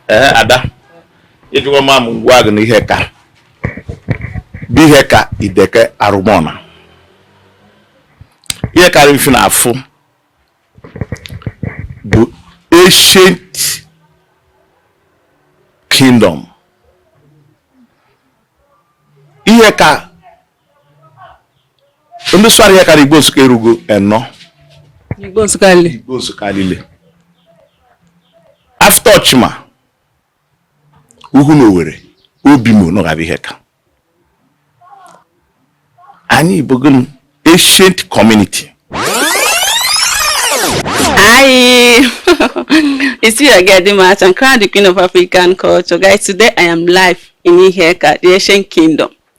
ee ada ịjụwa ma m gwa gị na Iheaka bụ Iheaka Ideke Arụmọna Iheaka rị mfe na afụ bụ ancient kingdom Iheaka ndị sụara Iheaka igbo nsụka erugo enọ igbo nsụka lile igbo nsụka lile after Ọchịma Uhunowere Obimo nọgaba Iheaka anyị bụ gịnị ancient community Hi, it's you again, the match. I'm crowned the Queen of African Culture. Guys, today I am live in Iheaka, the Ancient Kingdom.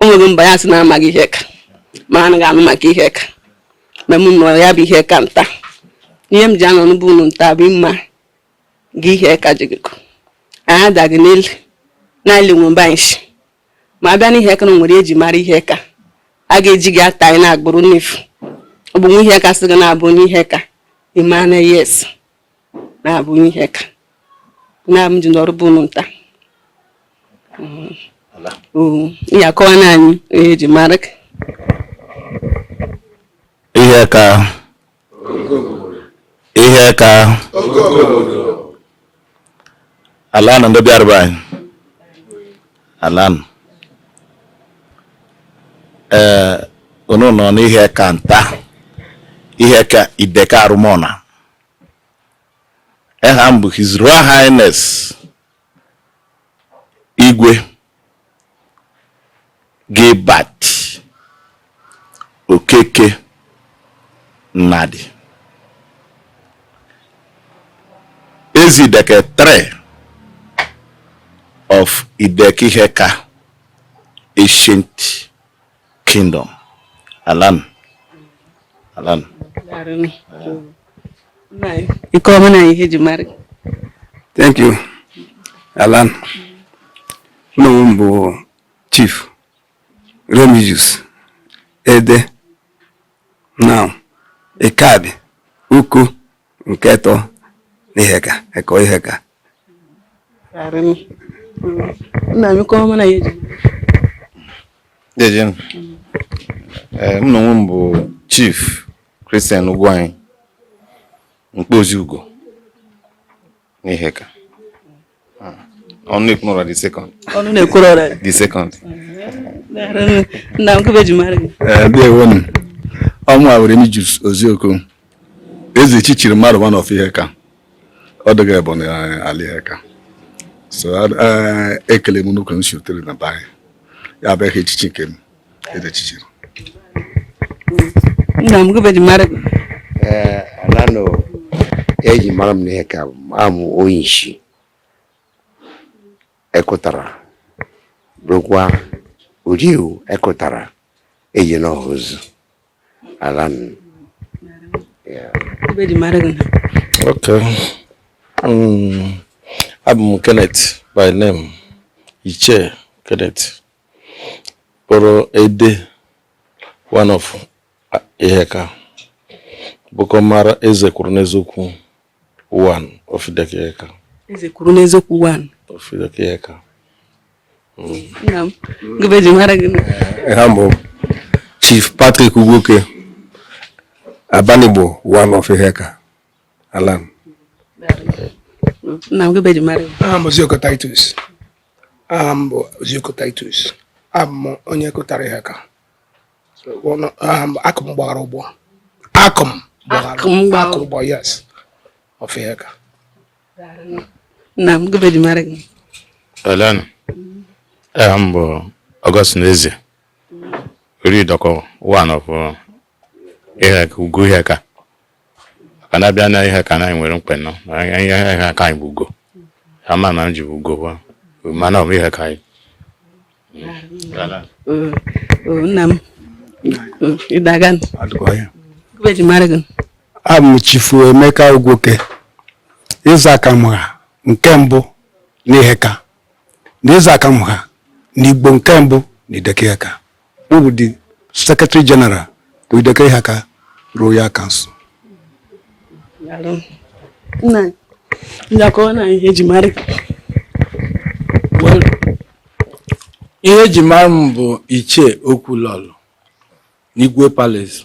o nwegị mba ya sị na amaghị Iheaka ma anaghị anụ maka Iheaka ma m nọ ya bụ Iheaka nta ihe m ji anọ na be unu nta bụ mma gị Iheaka jigịkọ anyị adaghị n'elu na-ele nwe mba nshi ma abịa n'Iheaka na nwere eji mara Iheaka a ga-eji gị ata anyị na-agbụrụ n'efu ọ bụ nwa Iheaka sị gị na-abụ onye Iheaka ị mana yes na-abụ onye Iheaka na m ji nọrụ be unu nta ị ya akọwa na anyị ihe eji mara Iheaka Iheaka alanụ ndị bịara be anyị alanụ ee unu nọ n'Iheaka nta Iheaka Ideke Arụmọna eha m bụ His Royal Highness Igwe Gilbert Okeke Nnadi Eze Ideke 3 of Ideke Iheaka ancient Kingdom. Alanụ. Alanụ. Ike ọma na ihe ji mara. Thank you. Alanụ. Nna m bụ Chief Remigius Ede. Now, Ekabi, Uko, nke etọ n'Iheaka Ekọyi Iheaka nna m kọọ mana ya eji Dejenụ. Ee, m na onwe m bụ Chief Christian Ugwuanyi Mkpozi Ugo n'Iheaka. ọnụ na-ekwuru ọra the second ọnụ na-ekwuru ọra the second nna m gụbe ji mara gị eh, ndewonu ọ mụwa Remigius Ozioko eze chichiri mmadụ one of Iheaka ọ dịghị ebe n'ala Iheaka so eh, ekele m nnukwu nsi otere na be anyị ya bụ aha echichi nke m edechichiri nna m gụbeji mara gị alanụ eji mara m n'Iheaka abụ m onye isi ekụtara bụrụkwa uriu ekụtara eji n'ọha ozu alanụ gụbeji mara gị ok um, abụ m kenneth by name ichie kenneth kpọrọ ede one of Iheaka bụkọ mara eze kwuru n'eziokwu one of Ideke Iheaka eze kwuru n'eziokwu one of Ideke Iheaka nna m gịbe ji mara gị aha m bụ chief patrick ugwoke abanigbo one of Iheaka alanụ nna m gịbe ji mara gị aha m Ozioko Titus aha m bụ Ozioko Titus abụ m onye Akụtara Iheaka aha m akụ m gbara ụgbọ akụ m gbara ụgbọ yes of Iheaka nna m gịbe ji mara gị alanụ aha m bụ Augustine Eze ori dọkọ one of uh, Iheaka Ugo Iheaka maka na abịa na Iheaka anyị nwere mkpenọ Iheaka anyị bụ ugo ama na m ji bụ ugo mana ọ bụ Iheaka anyị nna m ị dị aga abụ m chifu emeka Ugwoke eze aka m ha nke mbụ n'Iheaka na eze aka m ha n'igbo nke mbụ na Ideke Iheaka M bụ the Secretary General to Ideke Iheaka Royal Council Nna ndakọ na ihe eji mara ihe eji mara m bụ Ichie Okwulọlụ n'Igwe Palace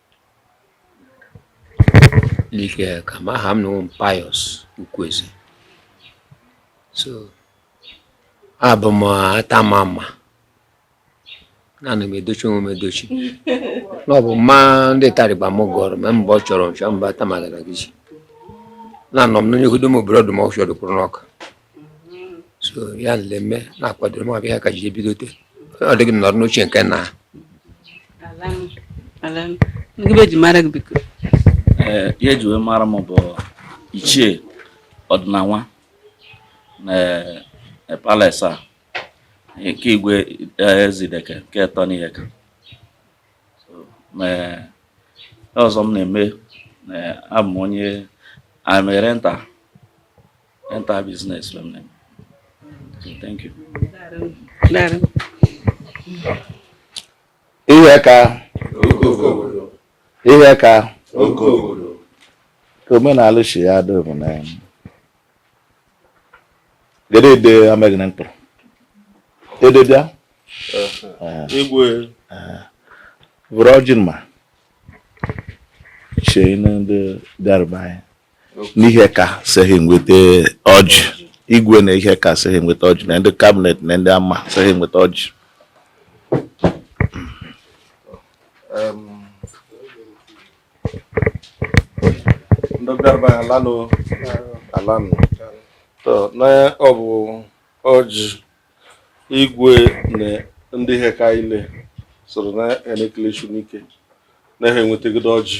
like ka ma aha m na ọ wụ m Pius Ukwueze so abụ m atama mma naanị m edochi onwe m edochi na ọ bụ mma ndị tarịba m gụrụ ma mgbe ọ chọrọ nchọ mba tamagana gị na anọ m n'onye hudo m obodo ọdụm ọfịa dụkwụrụ n'ọka so ya lele mme na-akwado ma ọbịa ka ji ebidote ọ dịghị m nọrọ n'oche nke na ngịbe ji mara gị biko ee ihe eji wee mara m bụ ichie ọdịnanwa na e, palace a nke igwe e, Ezideke nke etọ n'Iheaka So, ma e, ọzọ m na-eme na abụ m onye na-eme rental Enter business from them. Thank you. Iheaka Iheaka ka omenala si ya dị bụ na gede ede amaghị na mkpụrụ ede bịa igwe vuru ọjị ma chee ndị bịara be anyị n'Iheaka sị ha enweta ọjị igwe na Iheaka sị ha enweta ọjị na ndị kabinet na ndị ama sị ha enweta ọjị ndị bịara alanụ alanụ na ọ bụ ọjị igwe na ndị Iheaka ile soro na ha na-ekele unu ike na ha enwetagodo ọjị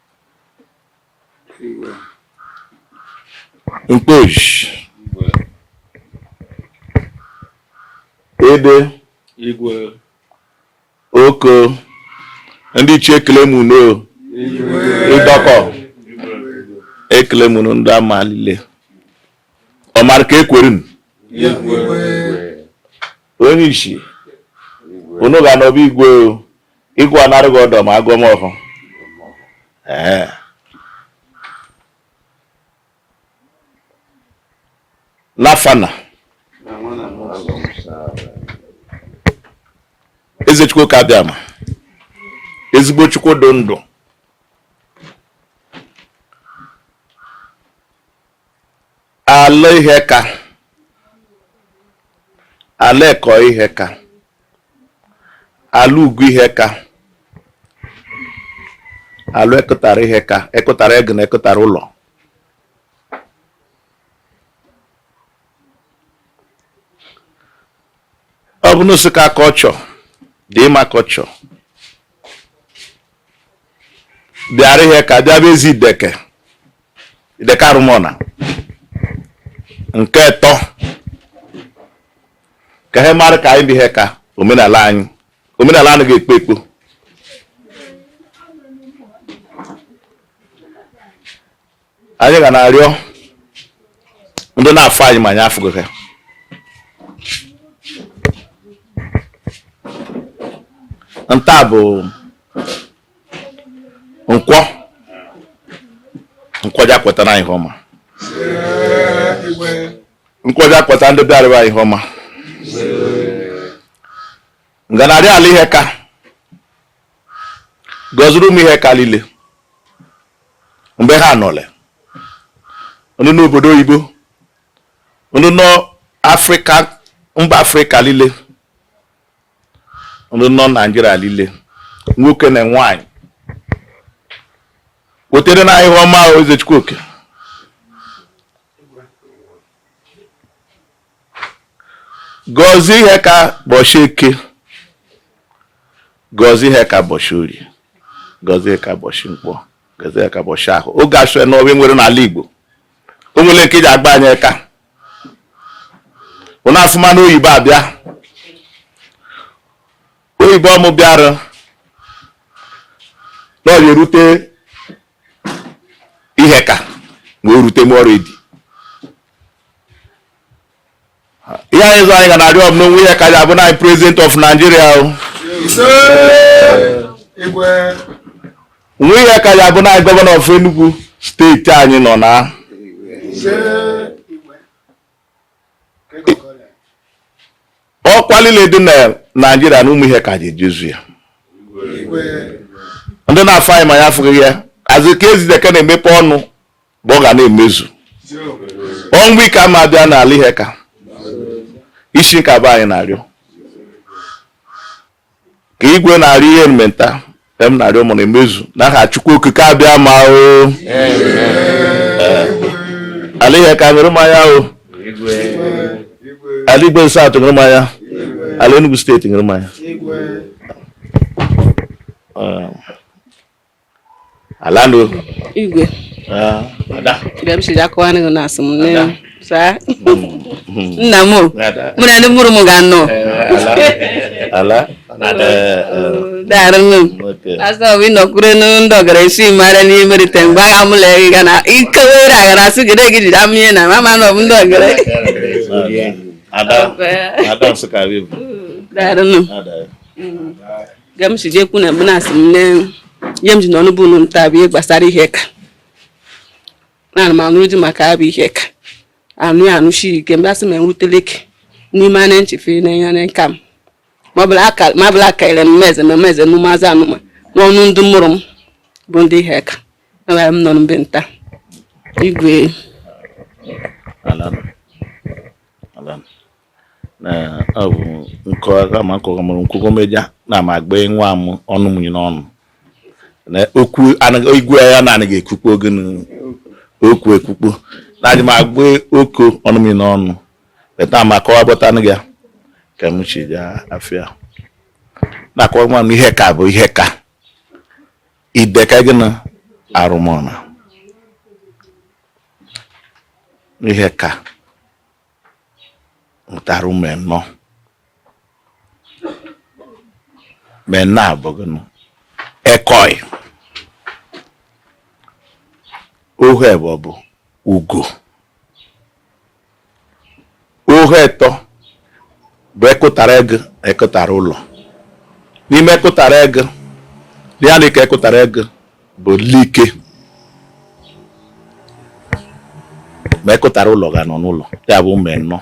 Mkpozi. Ede. Igwe. Oko. Ndị ichie ekele m unu Idoko ekele m unu ndị ama lile ọmara ka ekwere m onyishi unu ga n'obi igwe Igwe a na-arịọ gị ọdọ ma agọ m ọhọ. Ee. N'afa Nna. Eze Chukwu oke Abịama. Ezigbo Chukwu dị ndụ. ala Iheaka ala Ekoyi Iheaka ala Ugo Iheaka ala Ekụtara Iheaka Ekụtara egu na Ekụtara ụlọ ọ bụ Nsụka kọlchọ dị ịma kọlchọ bịara Iheaka bịa be Ezideke Ideke Arụmọna nke ịtọ ka ihe mara ka anyị bụ Iheaka omenala anyị omenala anaghị ekpo ekpo anyị ga na-arịọ ndị na-afụ anyị ma anyị afụghị ha nta bụ Nkwọ Nkwọ ja kwetara anyị ihe ọma Nkwọ ja kweta ndị bịara be anyị ihe ọma m ga na-arịọ ala Iheaka gọziri ụmụ Iheaka niile mgbe ha nọle ndị nọ obodo oyibo ndị nọ Afrịka mba Afrịka niile ndị nọ Naijiria niile nwoke na nwaanyị wetere anyị ihe ọma Eze Chukwuoke gọzie Iheaka bọchị Eke gọzie Iheaka bọchị Orie gọzie Iheaka bọchị Nkwọ gọzie Iheaka bọchị Ahọ oge asụe na ọbịa nwere n'ala Igbo o nwere nke ji agba anyị aka ụna afụma na oyibo abịa oyibo ọmụ bịara na ọ ga-erute Iheaka ma o rute m ọrụ edi ihe anyị zụ anyị ga na-arịọ na nwa Iheaka ji abụ na president of Nigeria o nwa Iheaka ji abụ na gọvanọ of Enugu steeti anyị nọ na ọkwa niile dị na Naijiria na ụmụ Iheaka ji ejezu ya ndị na-afụ anyị ma anyị afụghị ha azụ ka Ezideke na-emepe ọnụ bụ ọ ga na-emezu ọnwụ ike ama abịa n'ala Iheaka isi nke abụ anyị na-arịọ ka igwe na-arịọ ihe mmenta ka m na-arịọ mụ na-emezu n'aha Chukwu Okike Abịama o ala Iheaka ṅụrụ mmanya o ala Igbo-Eze South ṅụrụ mmanya ala Enugu steeti ṅụrụ mmanya Alano. Igwe. Ah, ada. Bịa m siri akọwa n'ihu na asị m nne m. Saa. Nna m o. Mụ na ndị mụrụ m ga anọ. Ala. Daarụ nne m. Asọ bụ ịnọkwuru ndị ọgara esi mara n'ihe merite mgbe agha m lee gị ga na ike were agara asị gị na gị jide amụnye na mama na ọ bụ ndị ọgara. Ada. Ada Nsụka Wivu. Daarụ nne m. ga m si jee kwu na mgbe na-asị m ne ihe m ji n'ọnụ bụ unu nta bụ ihe gbasara Iheaka na m anụrụ di maka abụ Iheaka anụ ya anụchi ike mgbe asị m enwutele ike n'ime anya nchefe na ihe na nka m ma ọ bụla akarịrị m meze ma meze m n'ụmụazị anụma n'ọnụ ndị mụrụ m bụ ndị Iheaka enwere m nọ mbe nta igwe ọ bụ nkọwa ma nkọwa mụrụ nkwụkwọ meja na ma agba nwa m ọnụ mụnye n'ọnụ na okwu igwe ya na anaghị ekwukpo oge okwu ekwukpo na adị m agba oko ọnụ mụnye n'ọnụ beta ma kọwa bọta nụ ya ka m chi ya afịa na-akọwa nwa m Iheaka bụ Iheaka Ideke gị na Arụmọna Iheaka mụtara ụmụ ịnọ ụmụ ịnọ a bụ gụnụ Ekoyi ohu ebọ bụ Ugo ohu etọ bụ Ekụtara egu Ekụtara ụlọ n'ime Ekụtara egu ya na ike Ekụtara egu bụ Likke ma Ekụtara ụlọ ga nọ n'ụlọ ya bụ ụmụ ịnọ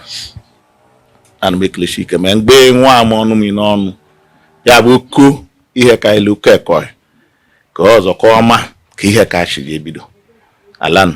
ana m ekelechi ike ma mgbe nwa ama ọnụ m n'ọnụ ya bụ ko Iheaka ilu ko Ekoyi ka ọzọ ka ọma ka Iheaka si jee bido alanụ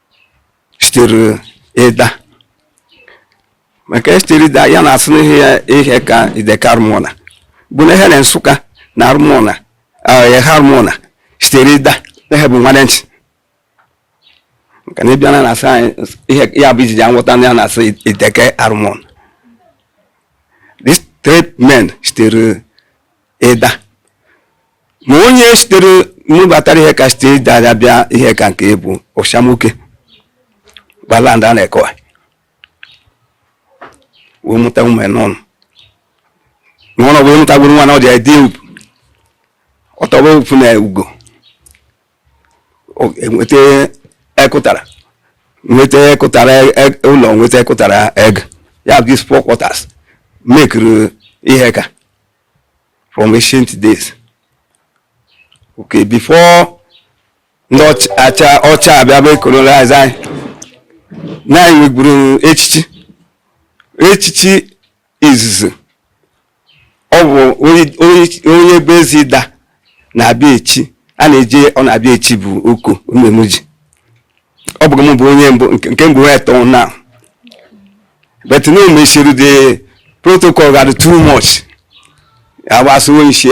sitere Ịda maka e sitere Ịda ya na-asị n'ihe ya Iheaka Ideke Arụmọna bụ na he na Nsụka na Arụmọna Eha Arụmọna sitere Ịda na he bụ nwanne ntị maka na ịbịa na na-asị anyị ihe ya bụ i ji ja-aghọta na ya na-asị Ideke Arụmọna these three men sitere Ịda ma onye sitere mụbatara Iheaka sitere Ịda ya bịa Iheaka nke bụ Ọshamuke gbaland a n'Ekoyi wee mụta ụmụ anọ n'ọnụ wee mụtagwuru nwa na ọ dị ede ugwu ọtọba ofu na Ugo O- enweta Ekụtara nweta Ekụtara e- ụlọ nweta Ekụtara egu ya bụ these four quarters mekiri Iheaka from ancient days okay before ndị ọcha abịa bụ colonize anyị na anyị nwegburu echichi echichi izizi ọ bụ onye bụ Eze Ịda na-abịa echi a na-eje ọ na-abịa echi bụ oko omemuji ọ bụghị m bụ onye mbụ nke mbụ wee tọọ na but na emesịrị the protocol ga-adị too much agbasa onye isi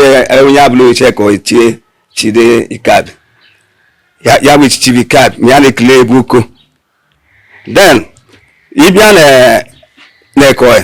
onye abụla oche ka ọ chie chide ikad ya bụ echichi bụ ikad ma ya na-ekele ebe uko then ịbịa na Ekoyi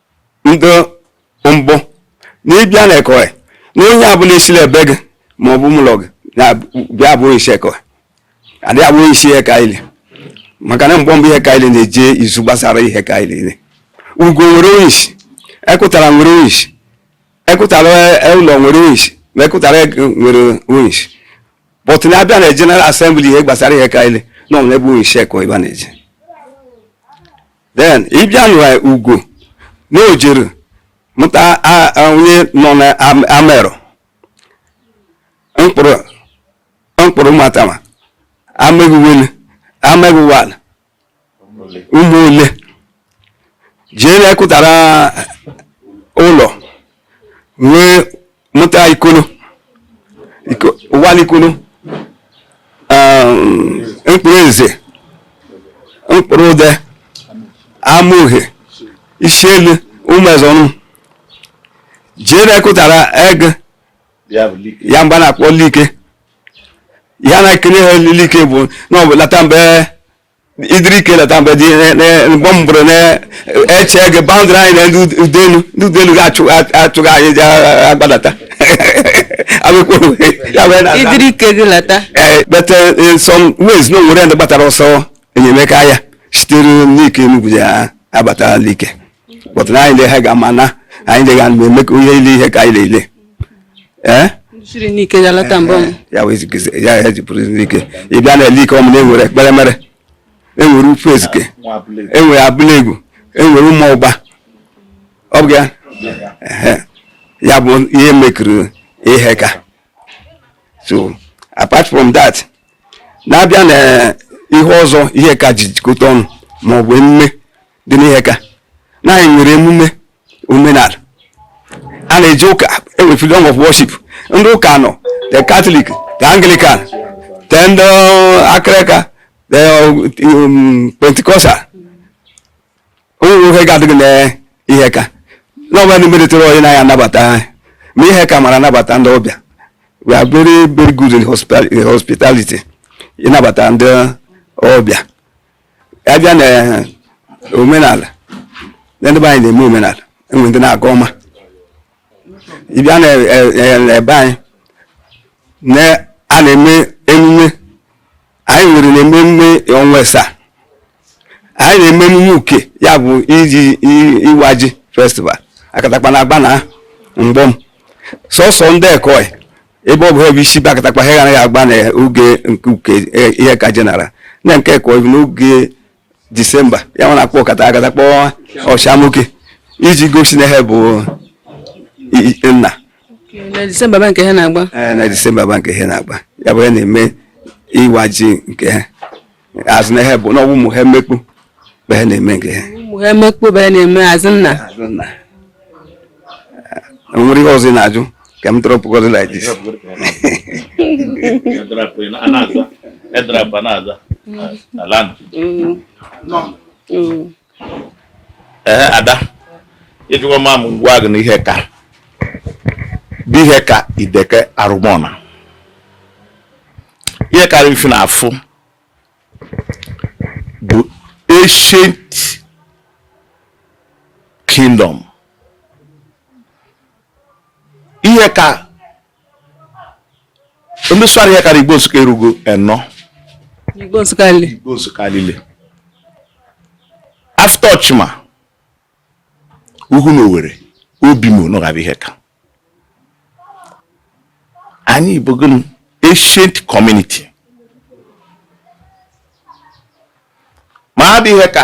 ndị mbụ na ịbịa na Ekoyi na onye ọbụla e siri ebe gị ma ọ bụ ụmụlọ gị bịa bụ onye isi Ekoyi adịghị abụ onye isi Iheaka niile maka na mgbe mbụ Iheaka niile na-eje izu gbasara Iheaka niile Ugo nwere onye isi Ekụtara nwere onye isi Ekụtara e, ụlọ nwere onye isi ma Ekụtara Egu nwere onye isi but na a bịa na general assembly ihe gbasara Iheaka niile na ọ n'ebe onye isi Ekoyi ebe a na-eje then ịbịa na Ugo na o jiri mụta onye nọ na amerụ mkpụrụ mkpụrụ matama ameghiwele ameghiwala ụmụ ole jee na Ekụtara ụlọ wee mụta ikolo ụwanị ikolo um, mkpụrụ eze mkpụrụ ude ama uhe isi elu ụmụ eze ọnụ jee na Ekụtara Egu ya bụ a na-akpọ Likke ya na-ekele ha Likke bụ na ọ bụ lata mgbe idiri ike lata mgbe dị mgbe m bụrụ na-eche gị boundary anyị na ndị udelu ndị udelu ga-achụga anyị ji agbadata idiri ike gị lata but in some ways na o nwere ndị gbatara ọsọ enyemaka ya sitere Nike Enugwu ya abata Likke but na anyị na ihe ga-ama na anyị dị ga eme ka onye ile Iheaka niile ee ya ya jipụrụ n'ike ị bịa na Likke ọmụ na enwere ekpere mere enwere ufu ezike enwere Abụla Egu enwere ụmụ ọgba ọ bụ ya ya bụ ihe mekiri Iheaka so apart from that na a bịa na ihe ọzọ Iheaka ji jikọta ọnụ ma ọ bụ emume dị n'Iheaka na anyị nwere emume omenala a na-eji ụka enwe freedom of worship ndị ụka anọ the catholic the anglican the ndị akịrịka the um, pentecostal o nwe ihe ga-adịghị na Iheaka na ọbụla ndị meritere onye na ya anabata anyị ma Iheaka mara anabata ndị ọbịa we are very very good in hospital- in hospitality ịnabata ndị ọbịa abịa na eh, omenala ndị be anyị na-eme omenala e nwere ndị na-aga ọma ịbịa na eh, eh, ebe anyị na a na-eme emume anyị nwere na-eme emume ọnwa asaa anyị na-eme emume uke ya bụ iji iwa ji festival akatakpa na agba na mgbọm sọsọ ndị ekoi ebe ọ bụ ebe isi be akatakpa ha anaghị agba na oge nke uke e, iheaka general na nke ekoi n'oge disemba ya nwa na-akpọ akata akatakpa ọchamuke iji gosi na ha bụ nna na disemba ba nke ha na-agba na disemba ba nke ha na-agba ya bụ ya na-eme ịwa ji nke ha azụ na ihe bụ na ọgwụ ụmụ ha emekpu bụ ha na-eme nke ha ụmụ ha emekpu bụ ha na-eme azụ nna azụ nna e nwere ihe ọzọ ị na-ajụ ka m drọpụ gọdị like this na-aza ee ada ịjụwa m m gwa gị na iheaka bụ iheaka ideke arụmọna iheaka ife na afụ bụ ancient kingdom iheaka ndị sụara iheaka na igbo nsụka erugu enọ igbo nsụka lile after ọchịma uhunowere obimo na gaba iheaka anyị bụ gịnị ancient community ma bụ iheaka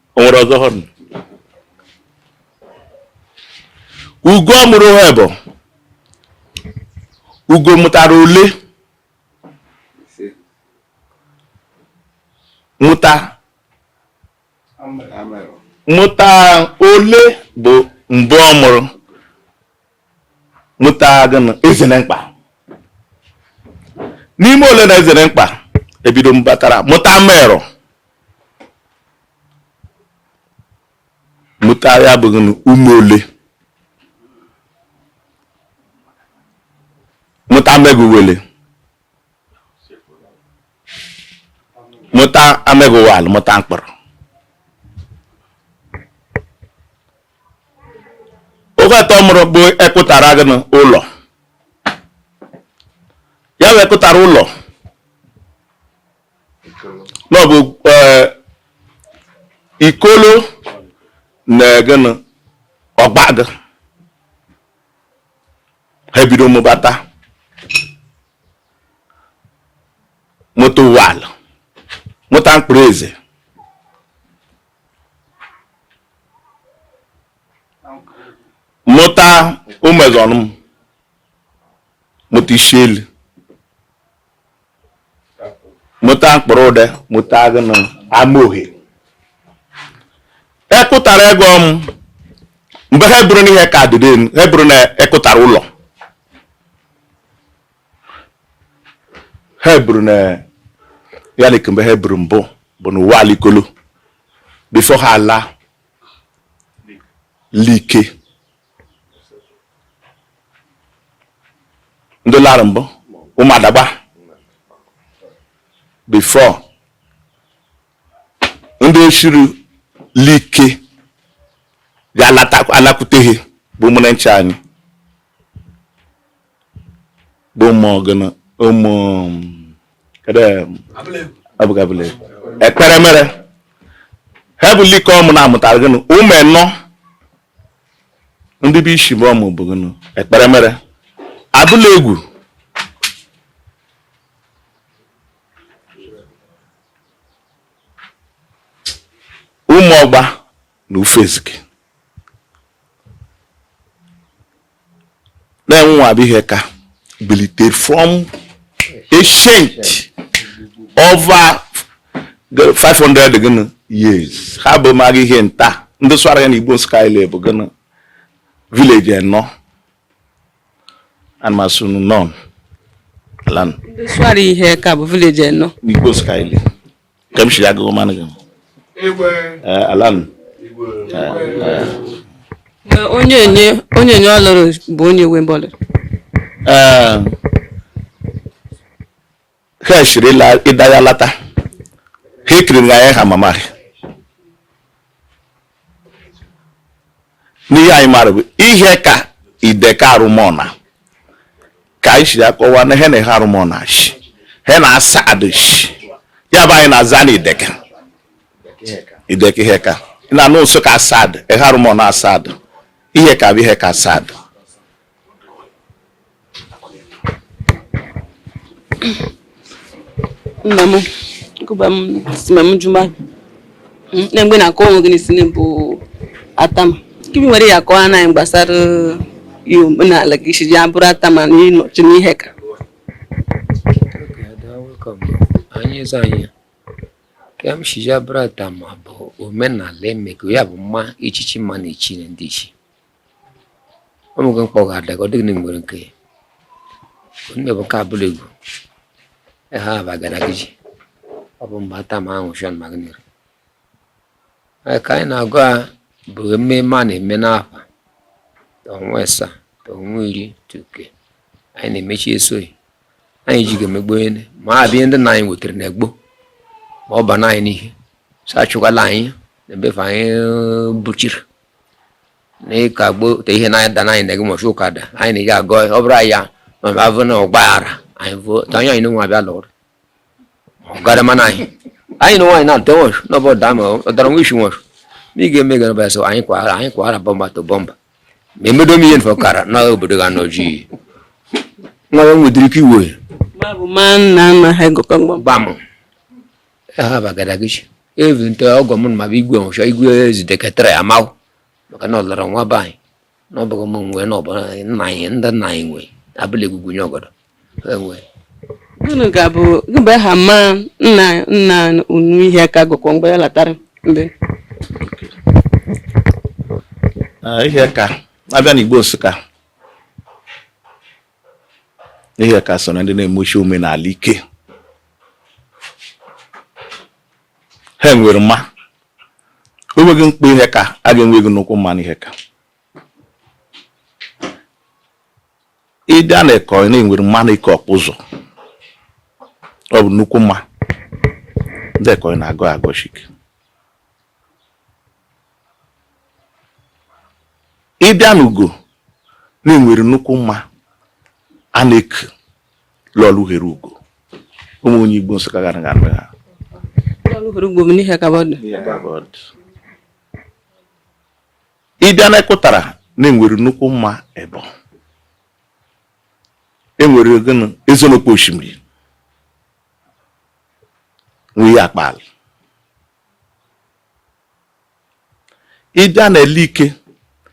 o nwere ọzọ hụrụ ugo mụrụ ha bụ ugo mụtara ole mụta mụta ole bụ mbụ ọ mụrụ mụta gịnị ezenemkpa n'ime ole na ezenemkpa ebido mbatara mụta merụ mụta ya bụ gịnị ume ole mụta amegụ uwele mụta amegụ uwal mụta mkpọrọ oge atọ mụrụ bụ ekụtara gịnị ụlọ ya wee kụtara ụlọ na ọ bụ eh, Ikolo na gịnị Ọgbagụ ha ebido mụbata mụta Ụwala mụta mkpụrụ eze mụta Ụmụezọnụm mụta Ishielu mụta mkpụrụ ụde mụta gịnị Amaohe ekụtara ego m mgbe ha bụrụ n'Iheaka adịdị ha bụrụ na ekụtara ụlọ ha eburu na ya na kemgbe ha eburu mbụ bụ na Ụwala Ikolo before ha ala Like ndị lara mbụ Ụmụadagba before ndị eshiri Like ga-alakwute ha bụ ụmụnne nche anyị bụ ụmụ gịnụ ụmụ kedu abụghị abụla ekpere mere ha bụ Like ọmụ na-amụtara gịnụ ụmụ enọ ndị bụ isi bụ ọmụ bụ gịnụ ekpere mere abụla egwu ụmụ ọgba na ufezike na-enwe Iheaka bilitere from ancient over 500 gịnị years ha bụ maghị ihe nta ndị swara ya na igbo skyle bụ gịnị village enọ anmasunu non lan ndị swara Iheaka bụ village enọ na igbo skyle ka m si agụgụ manụ gị alan onye enye onye enye ọlụrụ bụ onye nwe mbọlụ ha siri Ịda ya lata ha ekiri na ya ha mama n'ihe anyị maara bụ Iheaka Ideke Arụmọna ka anyị si akọwa na ha na Eha Arụmọna shi he na Asadu shi ya bụ anyị na-aza na Ideke Ideke Iheaka na Nsụka Asadu Eha Arụmọna Asadu Iheaka bụ Iheaka Asadu nna m gụba m si ma m jụma nne mgbe na-akọ onwe gị n'isi bụ atama ka ị bụ nwere ya kọọ anaghị gbasara ihe omenala gị shi ji abụrụ atama na ịnọchi n'Iheaka anyị eze anyị ka m shi ji abụrụ atama bụ omenala emego ya bụ mma echichi mma na echi ne ndị ichi ọ mụgo mkpọ ga-ada ka ọ dịghị nwere nke onume bụ nke abụla egwu ahaba gadagiji ọ bụ mgbe atama ahụ shọn magnir ka anyị na-agụ a bụ ememe a na-eme n'afa ọnwa ịsa ọnwa iri tuke anyị na-emechi esoghị anyị ji ga-emegbu onye ma a bịa ndị na anyị wetara na egbo ma ọ ba na anyị n'ihe sa achụkwala anyị na ebefe anyị bụchiri na ịka gbo te ihe na-ada na anyị na gị mọchi ụka da anyị na ị ga-agọ ọ bụrụ anyị ya ma ma avụ na ọgbaghara anyị bụ ta anyị anyị nwa abịa lụrụ ọgara mana anyị anyị na nwaanyị na-atọ nwọchụ na ọbọ daa ma ọ dara nwa isi nwọchụ ma ị ga-eme gara bịa so anyị kwara anyị kwara bumper to bumper ma emedo m ihe nfọ kara na obodo ga nọ ji nwa ya nwedịrị ike iwe ma bụ ma nna nna ha gụkọ mgbam gbam ahaba gadagiji evute ọgọ m ma bụ igwe nwụcha igwe ezideketara ya amahụ maka na ọ lọrọ nwa be anyị na ọ bụghị m nwe na ọ bụ nna anyị ndị nna anyị nwe abụla egwugwu nye ọgọdọ enwe unu ga-abụ mgbe ha ma nna nna unu Iheaka gụkwọ mgbe ya latara mbe Ah, Iheaka abịa n'Igbo Nsụka Iheaka so na ndị na-emeshi omenala ike ha nwere mma o nweghị mkpa Iheaka a ga-enweghị nnukwu mma n'Iheaka ị bịa na Ekoyi na e nwere mma na-eku ọkpụ ụzọ ọ bụ nnukwu mma ndị Ekoyi na-agọ agọshi ike ị bịa n'Ugo na e nwere nnukwu mma a na-eku Lọlọ Uhere Ugo ụmụ onye Igbo Nsụka gara gara ha ị bịa na Ekụtara na e nwere nnukwu mma ebe e nwere gịnị Ezenokpo oshimiri nwee akpa ala ị bịa na Elike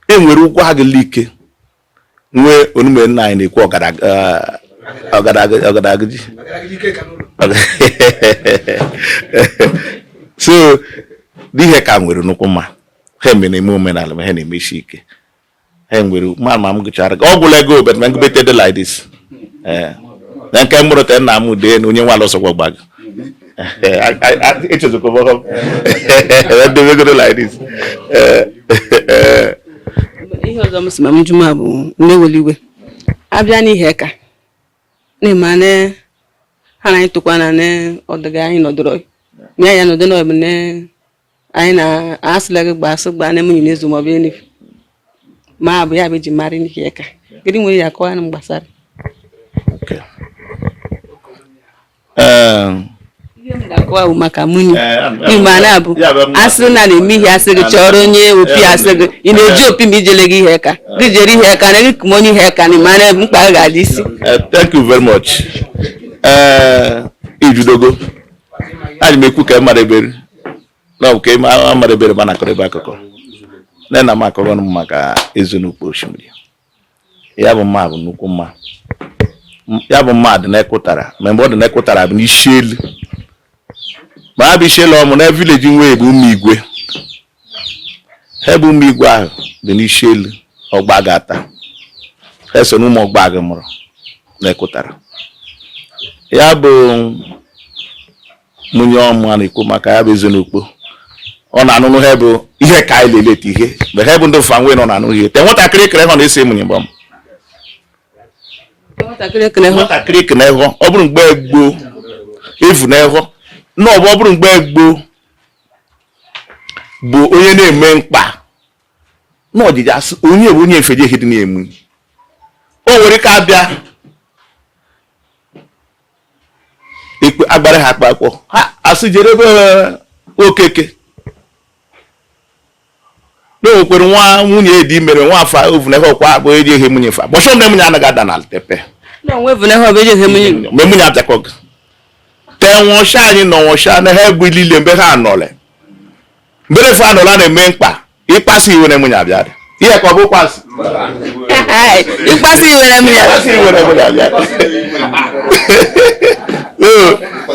e nwere Ugwu Agụ Like nwee onume nna anyị na-eku ọgadagidi so Iheaka nwere nnukwu mma ha mere eme omenala ma ha na-emeshi ike e nwere ma ma m gụchara ọ gwụla ego bet ma ngụbete dị like this eh. na nke mụrụ te nna m dee na onye nwa alụsọkwa gbago echezokwa debegoro like this eh, eh. ihe ọzọ m si ma m jụma bụ na-eweli iwe abịa n'Iheaka na-eme na ha na anyị tụkwa na ọdịga anyị nọdụrụ ya ya nọdụ n'ọbụ na anyị na-asịla gị gbaa asị gbaa na-emenye n'izu maọbụ enif ma abụ ya bụ eji mara Iheaka gịnị nwere ya akọwa na m gbasara akọwa bụ maka munyi mgbe a na-abụ asị na na-eme ihe asị gị chọrọ onye Opi asị gị ị na-eje Opi ma ị jele gị Iheaka gị jere Iheaka na gị kụma onye Iheaka na mara mkpa ga-adị isi thank you very much ijudogo anyị m ekwu ka mara ebere na ọ bụ ka mara ebere ma na-akọrọ ebe akụkọ na na m akọrọ m maka Ezenokpo Oshimiri ya bụ mma bụ nnukwu mma ya bụ mma dị n'Akutara ma ebe ọ dị n'Akutara bụ n'Ishielu ma ha bụ Ishielu ọmụ na village nwe ya bụ Ụmụ Igwe ha bụ Ụmụ Igwe ahụ dị n'Ishielu Ọgbagụ Ata ha so na Ụmụ Ọgbagụ mụrụ n'Akutara ya bụ munyi ọmụ a na-ekwu maka ya bụ Ezenokpo ọ na-anụnụ ha bụ Iheaka anyị leleta ihe mgbe ha bụ ndị fa nwe nọ na-anụ ihe te nwatakịrị kere ha na-esi munyi mgbe m nwatakịrị ekele hụ nwatakịrị kene hụ ọ bụrụ mgbe gboo efu na ịhụ na ọ bụ ọ bụrụ mgbe gboo bụ onye na-eme mkpa na ọdịdị asị onye bụ onye efeje ihe dị na munyi o nwere ike abịa ekpe agbara ha akpakpọ ha asị jere ebe eh, Okeke na onwekwere nwa nwunye di mere nwa afa ovunehe ọkwa abụ eji ehe munyi fa bọchọ mgbe munyi anaghị ada n'ala tepe mgbe munyi abịakọghị ka enwụcha anyị na ọnwụcha na ha egbe niile mgbe ha anọle mbere fe anọla na-eme mkpa ịkpasu iwe na munyi abịa ihe ka ọ bụ kpasu ịkpasu iwe na munyi abịa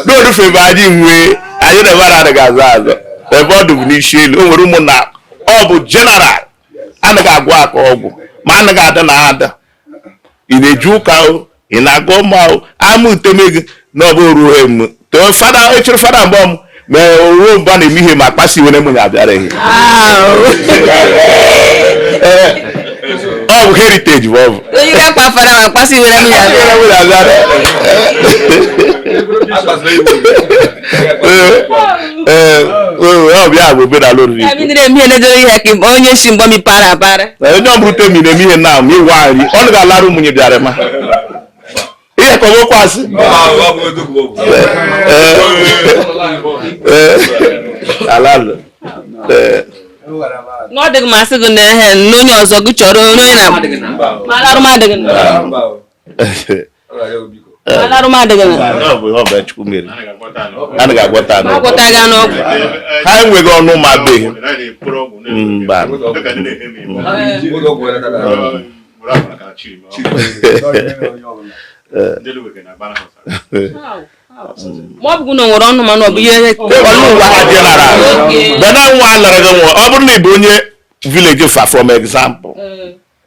n'orufe ebe anyị nwee anyị na-ebara adịghị azụ azụ ebe ọ dụbụ n'Ishielu o nwere ụmụnna ọ bụ general anaghị agwọ aka ọgwụ ma anaghị ada na ada ị na-eje ụka o ị na-agọ mma o ama uteme gị na ọ bụ ruo m too fada echiri fada mgbe m ma ruo mgbe a na-eme ihe ma akpasi iwe na munyi abịaraghị ọ bụ heritage bụ ọ bụ onye ga-akpa fada ma akpasi iwe na munyi abịara munyi abịara ee ọbịa bụ omenala oriri Ya bidoro emi enedoro Iheaka onye si mgbọ mi para para. na onye ọbụrụ temi na-eme ihe na ma ịwa nri ọ na ga-alarụ ụmụnye bịara ma Iheaka ọgwụkwasị alalụ ee Na ọ dịghị masị gị na ehe na onye ọzọ gị chọrọ onye onye na ma alarụ m adịghị na. ha enweghị ọnụ ma beghị mba ma ọ bụrụ na nwere ọnụ mana ọ bụ ihe bena nwa anara gị nwa ọ bụrụ na ị bụ onye village fa from example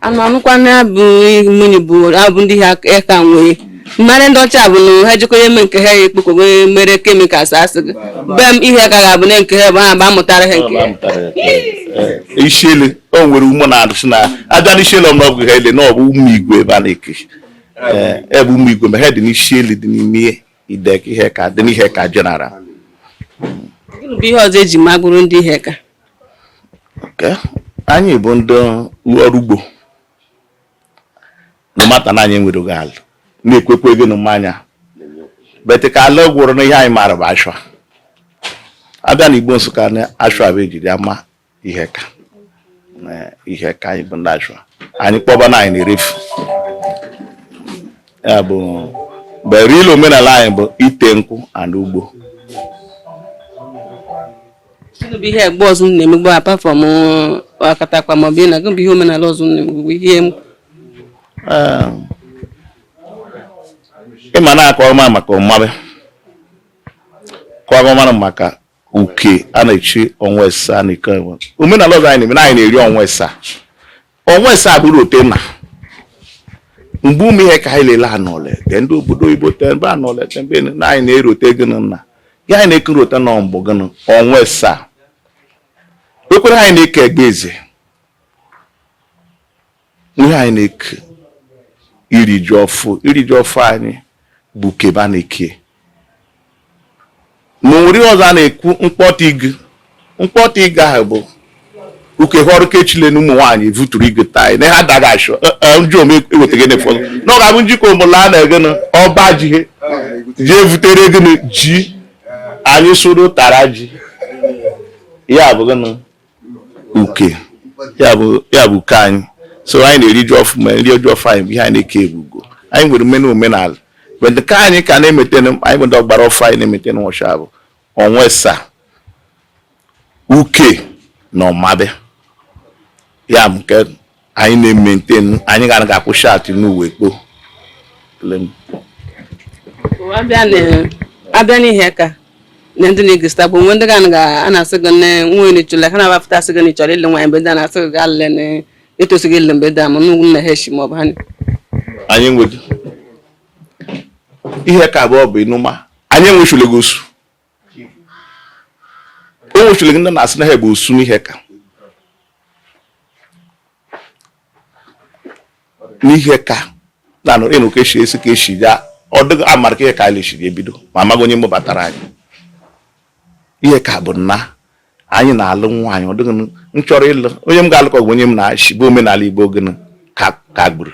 anụ anụkwa na bụ mmiri bụ abụ ndị Iheaka nwee mmanụ ndị ọcha bụ na ha jikọrọ eme nke ha ekpokọgo mere chemicals asị gị be m Iheaka ga-abụ na nke ha bụ ha bụ amụtara ha nke e, isiele o nwere ụmụ na-adụsị na abịa n'isiele ọmụrụ ọgwụ ha ele na ọ bụ ụmụ igwe ebe a na-ekechi ebe ụmụ igwe ma ha dị n'isiele dị n'ime ihe Idek Iheaka dị n'Iheaka general. Gịnị bụ ihe ọzọ eji magụrụ ndị Iheaka? Okay. Anyị bụ ndị ọrụ ugbo na mata na anyị nwere oge ala na-ekwekwa ego na mmanya bete ka ala gwụrụ na ihe anyị maara bụ ashwa abịa na Igbo Nsụka na ashwa bụ ejiri ama Iheaka eh, Iheaka anyị bụ ndị ashwa anyị kpọba na anyị na-erefu ya but the real omenala anyị bụ ite nkwụ and ugbo Gịnị bụ ihe egba ọzọ unu na-emegbu apart from uh, akatakpa maọbụ ịna gịnị bụ ihe omenala ọzọ unu na-emegbu ihe m- Eh, ịma na-akọ ọma maka ọmabe kọọ ọma maka uke a na-echi ọnwa asaa na ike enwe omenala ọzọ anyị na-eme na anyị na-eri ọnwa asaa ọnwa asaa bụrụ ote na mgbe ụmụ Iheaka anyị lele anọle te ndị obodo oyibo te mbe anọle te mbe na anyị na-erote gịnị na ya anyị na-ekerota na ọmbụ gịnị ọnwa asaa ekwere anyị na-eke egba eze Ihe anyị na-eke iri ji ọfụ iri ji ọfụ anyị bụ kebe a na-eke ma nwere ọzọ a na-ekwu mkpọta igu mkpọta igu ahụ bụ ukekwe ọrụ kechile na ụmụ nwaanyị vuturu igu taa na ha daga ashwa njụ ome ewetaghị na ụfọdụ na ọ ga-abụ njikọ mụla a na-ege na ọba ji ihe ji evutere gịnị ji anyị soro tara ji ya bụ gịnị uke ya bụ ya bụ uke anyị so anyị na-eri ji ọfụ ma nri ji ọfụ anyị bụ ihe anyị na-eke ebugo anyị nwere mmena omenala but nke anyị ka na-emaintain anyị bụ ndị ọgbara ọfụ anyị na-emaintain nwọshụa bụ ọnwa esaa uke na ọmabe ya bụ nke anyị na-emaintain anyị ga ga-akwụ shatị n'uwe kpo abịa n'ihe ka na ndị na-egosita bụ nwe ndị ga na-asị gị na nwunye chụla ha na-abapụta asị gị na ịchọrọ ịlụ nwaanyị mgbe ndị a na-asị gị gaa lele na etosighị ịlụ be ndị a ma nnukwu nna ha echi ma ọ bụ ha anyị nwere ihe ka abụọ bụ ịnụma anyị enwechulegu osu o nwechulegu ndị na-asị na ha bụ osu n'ihe ka n'ihe ka na-anụ ịnụ ka esi esi ka esi ya ọ dịghị amara ka ihe ka anyị lechiri ebido ma amaghị onye mụbatara anyị ihe ka bụ na anyị na-alụ nwaanyị ọ dịghị m chọrọ ịlụ onye m ga-alụ ka ọ bụ onye mụ na ya shi bụ omenala Igbo gịnị kagburu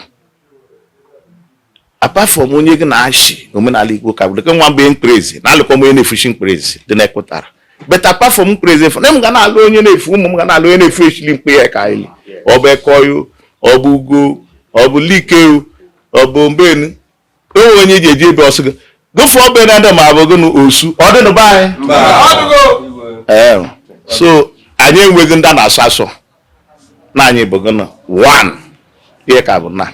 apart from onye gị na ya shi omenala Igbo kagburu nwa mgbe mkperezi na-alụkọ onye na-efuchi mkperezi dị na-ekwetara but apart from mkperezi efu na m ga na-alụ onye na-efu ụmụ m ga na-alụ onye na-efu echili mkpe ya ka anyị ọ bụ ekoyo ọ bụ ugo ọ bụ likeu ọ bụ mbenu onwe onye ji eji ebe ọsụ gị gụfụ ọbụ na ndị ma abụ gị na osu ọ dị n'ụba anyị so anyị enweghị ndị a na-asọ asọ na anyị bụ gịnị one ihe ka bụ na